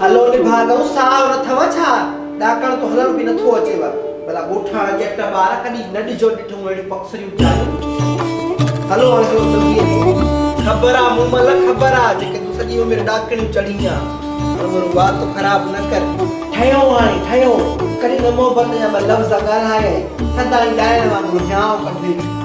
هلو نڀاڳئو ساهه نه اٿئو ڇا؟ ڏاڪڻ تو هلڻ به نه ٿو اچيو. ڀلا ڳوٺاڻا ڄٽ ٻار ڪڏهن نه ڏجو ڏٺئون اهڙيون پڪسريون چالون. هلو هاڻي هلو جلدي اچو. خبر آ مومل خبر آ جيڪي تون سڄي عمر ڏاڪڻيون چڙهين آ. هاڻ مرو وات خراب نه ڪر. ٺهيو هاڻي ٺهيو. ڪڏهن نه محبت جا ٻه لفظ ڳالهايئي. سدائين ڏائڻ وانگر هيانء ڪڍي.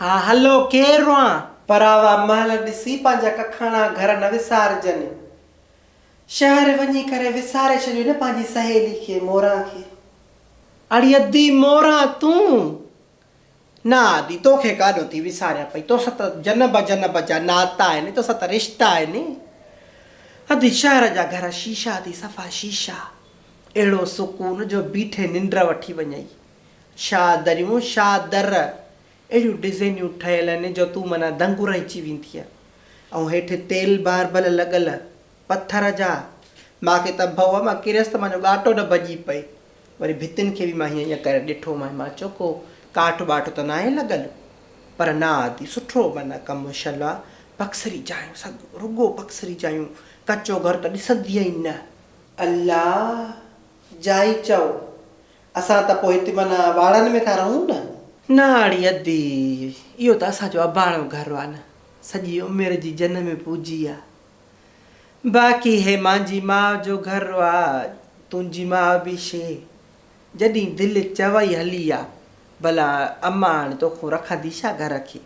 ها هلو ڪير روئان. پراوا مهل ڏسي پنهنجا ڪکاڻا گهر نه وسارجن. شهر وڃي ڪري وساري ڇڏيو نه پنهنجي سهيلي کي موران کي. اڙي ادي موران تون. نه ادي توکي ڪاڏو ٿي وساريان پئي توسان ته جنب جنب جا ناتا آهن توسان ته رشتا آهن. ادي شهر جا گهر شيشا ٿي صفا شيشا. اهڙو سڪون جو بيٺي ننڊ وٺي وڃئي. شاهه دريون، شاهه در، اهڙيون ڊزينيون ٺهيل هن جو تون معنيٰ دنگ رهجي ويندينء. ۽ هيٺ تيل باربل لڳل، پٿر جا. مان کي ته ڀؤ مان ڪريس ته مان جو ڳاٽو نه ڀڄي پئي. وري ڀتين کي به مان هيئن هيئن ڪري ڏٺو مانء، مان چيو ڪو ڪاٺ ٻاٺ ته ناهي لڳل. پر نه عادي سٺو معنيٰ ڪم شل آ. پڪسري جايون سڳ، رڳو پڪسري جايون، ڪچو گهر ته ڏسندينء ئي نه. الله جائي چئو، اسان ته پوء هتي معنيٰ واڙن ۾ ٿا رهون نه؟ ناڙي ادي، اهو ته اسان جو اباڻو گهر آ نه، سڄي عمر جي جنم پوجي آ. باقي هي مانجي ماء جو گهر آ، تنهنجي ماء به شي، جڏهين دل چوئي هلي آ. ڀلا اماڻ توکون رکندي ڇا گهر کي؟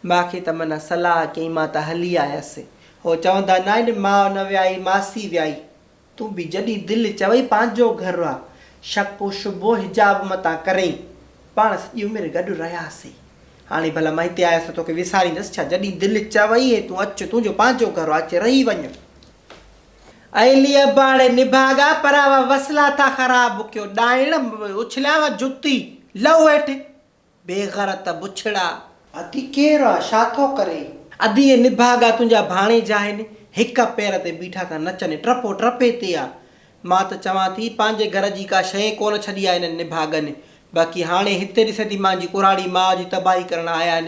ماء کي ته معنيٰ صلاح ڪيئين مان ته هلي آيس. هو چوندا ناهن ماء نه ويائي ماسي ويائي. تون به جڏهن دل چوئي پنهنجو گهر آ، شڪ و شبهو حجاب متان ڪرين. پاڻ سڄي عمر گڏ رهياسي. هاڻي ڀلا مان هتي آيس ته توکي وساريندس ڇا؟ جڏهن دل چوئي هي تون اچ، تنهنجو پنهنجو گهر آ، اچ رهي وڃ. اي لي اباڙي نڀاڳا پراوا وسلا ٿا خراب ڪيو ڏائڻ اڇليا وا جتي لئو هيٺ. بي غرت بڇڙا! ادي ڪير آ؟ ڇا ٿو ڪرين؟ ادي اي نڀاڳا تنهنجا ڀاڻيجا آهن، هڪ پير تي بيٺا ٿا نچن، ٽپو ٽپي تي آ. مان ته چوان ٿي پنهنجي گهر جي ڪا شيء ڪونه ڇڏي آ انهن نڀاڳن، باقي هاڻي هتي ڏسين ٿي مانجي ڪورهاڙي ماء جي تباهي ڪرڻ آيا آهن،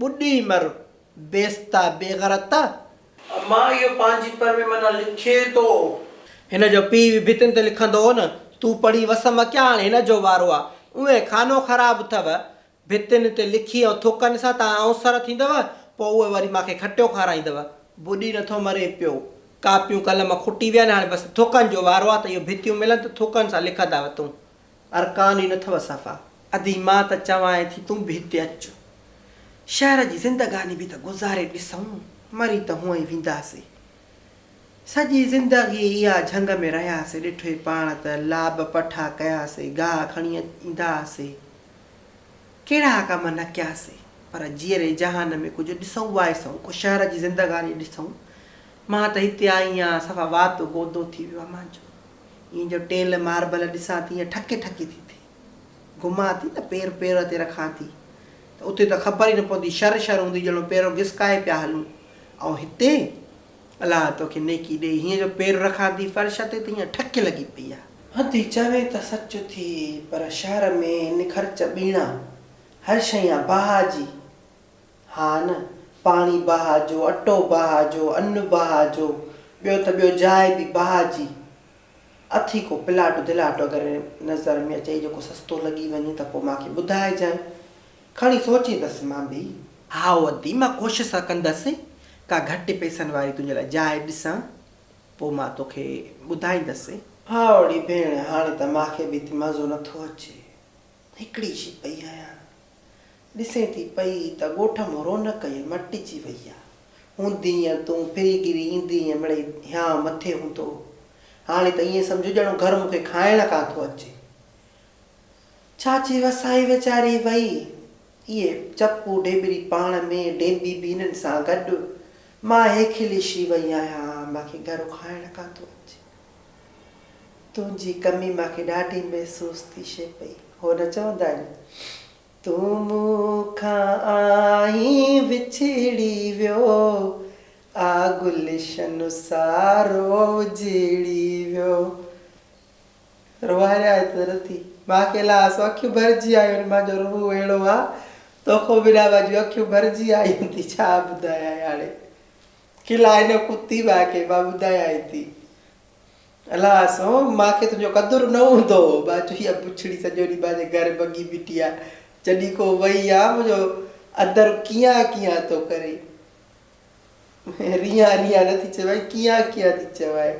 ٻڏي مر بيستا بيغرتا. اما اهو پنهنجي پر ۾ معنيٰ لکي ٿو. هن جو پيء به ڀتين تي لکندو هو نه تون پڙهي وس م ڪيا هاڻي هن جو وارو آ اوهين خانو خراب اٿو ڀتين تي لکي ۽ ٿڪن سان تان آئون سر ٿيندو پو اوهين وري مان کي کٽيو کارائيندو. ٻڏي نٿو مري پيو ڪاپيون قلم کٽي ويا آهن هاڻي بس ٿڪن جو وارو آ ته اهو ڀتيون ملن ته ٿڪن سان لکندا وتون. ارڪان ئي نٿو صفا. ادي مان ته چوانء ٿي تون به هتي اچ. شهر جي زندگاني به ته گذاري ڏسون. مري ته هونئن ئي وينداسين. سڄي زندگي اها جهنگ ۾ رهياسين. ڏٺوئي پاڻ ته لاب پٺا ڪياسين. گاهه کڻي ايندا هئاسين. ڪهڙا ڪم نه ڪياسين. پر جيئري جهان ۾ ڪجهه ڏسون وائسون. ڪو شهر جي زندگاني ڏسون. مان ته هتي آئي آهيان صفا وات گودو ٿي ويو آهي مانجو. ايئن جو ٽيل ماربل ڏسان ٿي يا ٺڪي ٺڪي ٿي ٿئي. گهمان ٿي نه پير پير تي رکان ٿي ته اتي ته خبر ئي نه پوندي شر شر هوندي ڄڻو پيرو گسڪائي پيا هلون ۽ هتي؟ الله توکي نيڪي ڏئي هيئن جو پير رکان ٿي فرش تي ته هيئن ٺڪ لڳي پئي آ. هندي چوي ته سچ ٿي پر شهر ۾ نکرچ ٻيڻا هر شيء آ باهه جي. ها نه، پاڻي بها جو، اٽو بها جو، ان بها جو، ٻيو ته ٻيو جاء به بها جي اٿئي ڪو پلاٽ دلاٽ اگر نظر ۾ اچئي جيڪو سستو لڳي وڃي ته پوء مان کي ٻڌائجانء، کڻي سوچيندس مان به. هائو ادي، مان ڪوشس ته ڪندس ڪا گهٽ پئسن واري تنهنجي لاء جاء ڏسان، پوء مان توکي ٻڌائيندس. هائو ڙي ڀيڻ، هاڻي ته مان کي به اتي مزو نٿو اچي. هڪڙي شي پئي آيان. ڏسين ٿي پئي ته ڳوٺ مان رونق ئي مٽجي وئي آ. هوندينء تون ڦري گهري ايندينء مڙئي هيانء مٿي هوندو هو. هاڻي ته ائين سمجهه ڄڻو گهر مون کي کائڻ ڪانه ٿو اچي. چاچي وسائي ويچاري وئي. اهي چپو ڍيٻري پاڻ ۾ ڍيٻي به انهن سان گڏ. مان هيڪلي شي وئي آهيان. مان کي گهرو کائڻ ڪانه ٿو اچي. تنهنجي ڪمي مان کي ڏاڍي محسوس ٿي شي پئي هو نه چوندا آهن تون مون کان آئين وڇڙي ويو آ گلشن سارو اجڙي ويو روئاري آهي ته رتي مان اڪيلا آس اکيون ڀرجي آيون مان جو روح اهڙو آ توکو بنا مان جون اکيون ڀرجي آيون ٿي ڇا ٻڌايان هاڻي. کلا هن ڪتي واقعي مان ٻڌايائين ٿي. الاس هو مان کي تنهنجو قدر نه هوندو هو. مان چيو اها بڇڙي سڄو ڏينهن مانجي گهر ڀڳي بيٺي آ. جڏهن ڪو وئي يا منهنجو اندر ڪيان ڪيان ٿو ڪري. ريان ريان نه ٿي چوائين ڪيان ڪيان ٿي چوائين.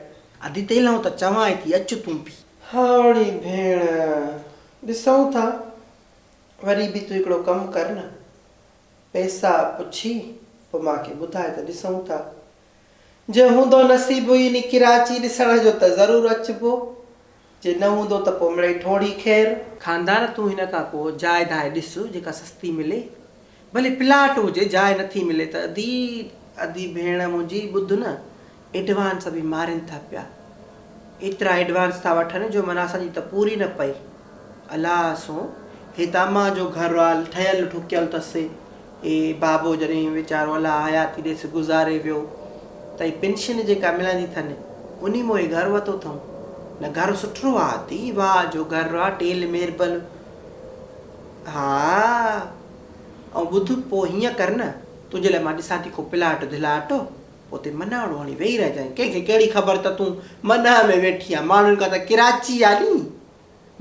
ادي تيلهون ته چوانء ٿي اچ تون به. هائوڙي ڀيڻ ڏسون ٿا. وري به تون هڪڙو ڪم ڪر نه. پئسا پڇي پوء مان کي ٻڌاء ته ڏسون ٿا. جي هوندو نصيب هينئين ڪراچي ڏسڻ جو ته ضرور اچبو. جي نه هوندو ته پوء مڙئي ٺوڙهي خير. خاندان تون هن کان ڪو جاء داء ڏس جيڪا سستي ملي. ڀلي پلاٽ هجي جاء نٿي ملي ته ادي ادي ڀيڻ منهنجي ٻڌ نه ايڊوانس به مارين ٿا پيا. ايترا ايڊوانس ٿا وٺن جو من اسان جي ته پوري نه پئي. الله سون هي داما جو گهروال ٺهيل ٺڪيل ٿس. اي بابو جڏهن ويچارو الله حياتي ڏيس گذاري ويو ته اي پينشن جيڪا ملندي ٿن انهي مون هي گهر وتو ٿئون. نه گهر سٺرو آ اٿي واء جو گهر آ ٽيل ميربل ها ائون ٻڌ پو هيئن ڪر نه تنهنجي لاء مان ڏسان ٿي ڪو پلاٽ ڌلاٽ. اتي مناڻو هڻي ويهي رهجانء، ڪنهن کي ڪهڙي خبر ته تون منهه ۾ ويٺي آهين، ماڻهن کان ته ڪراچي آ ني،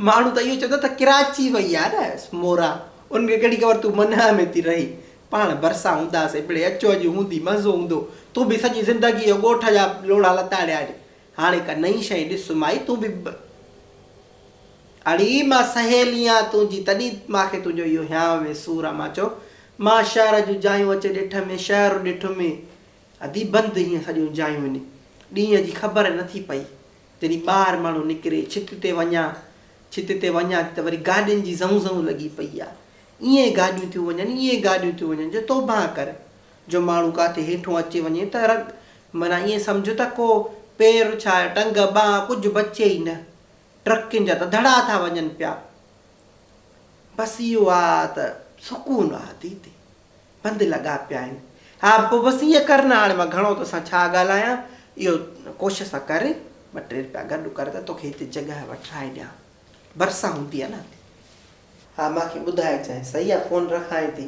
ماڻهو ته اهو چوندا ته ڪراچي وئي آ نه مورا، انهن کي ڪهڙي خبر تون منهه ۾ ٿي رهين، پاڻ ڀرسان هونداسين، مڙئي اچو اڄ هوندي مزو هوندو، تون به سڄي زندگيء جو ڳوٺ جا لوڙها لتاڙيا آهن. هاڻي ڪا نئين شيء ڏس مائي تون به ٻه. اڙي مان سهيليان تنهنجي تڏهن ماکي تنهنجو اهو هيانء وي سور آ مان چيو مان شهر جون جايون اچي ڏٺ مين شهر ڏٺ مين ادي بند هيون سڄيون جايون اني ڏينهن جي خبر نه ٿي پئي جڏهن ٻاهر ماڻهو نڪري ڇت تي وڃان ڇت تي وڃان ٿي ته وري گاڏين جي زئون زئون لڳي پئي آ ايئن گاڏيون ٿيون وڃن ايئن گاڏيون ٿيون وڃن جو توبهان ڪر جو ماڻهو ڪاٿي هيٺون اچي وڃي ته رڳ معنيٰ ائين سمجهه ته ڪو پير ڇا ٽنگ ٻانهن ڪجهه بچي ئي نه. ٽرڪين جا ته دڙا ٿا وڃن پيا. بس اهو آ ته سڪون آ ديدي. بند لڳا پيا آهن. ها پوء بس ائين ڪر نه هاڻي مان گهڻو تو سان ڇا ڳالهايان. اهو ڪوشش ته ڪر ٻه ٽي رپيا گڏ ڪر ته توکي هتي جڳهه وٺرائي ڏيان. ڀرسان هوندينء نه هتي. ها مان کي ٻڌائي چانهه صحيح آ فون رکانء ٿي.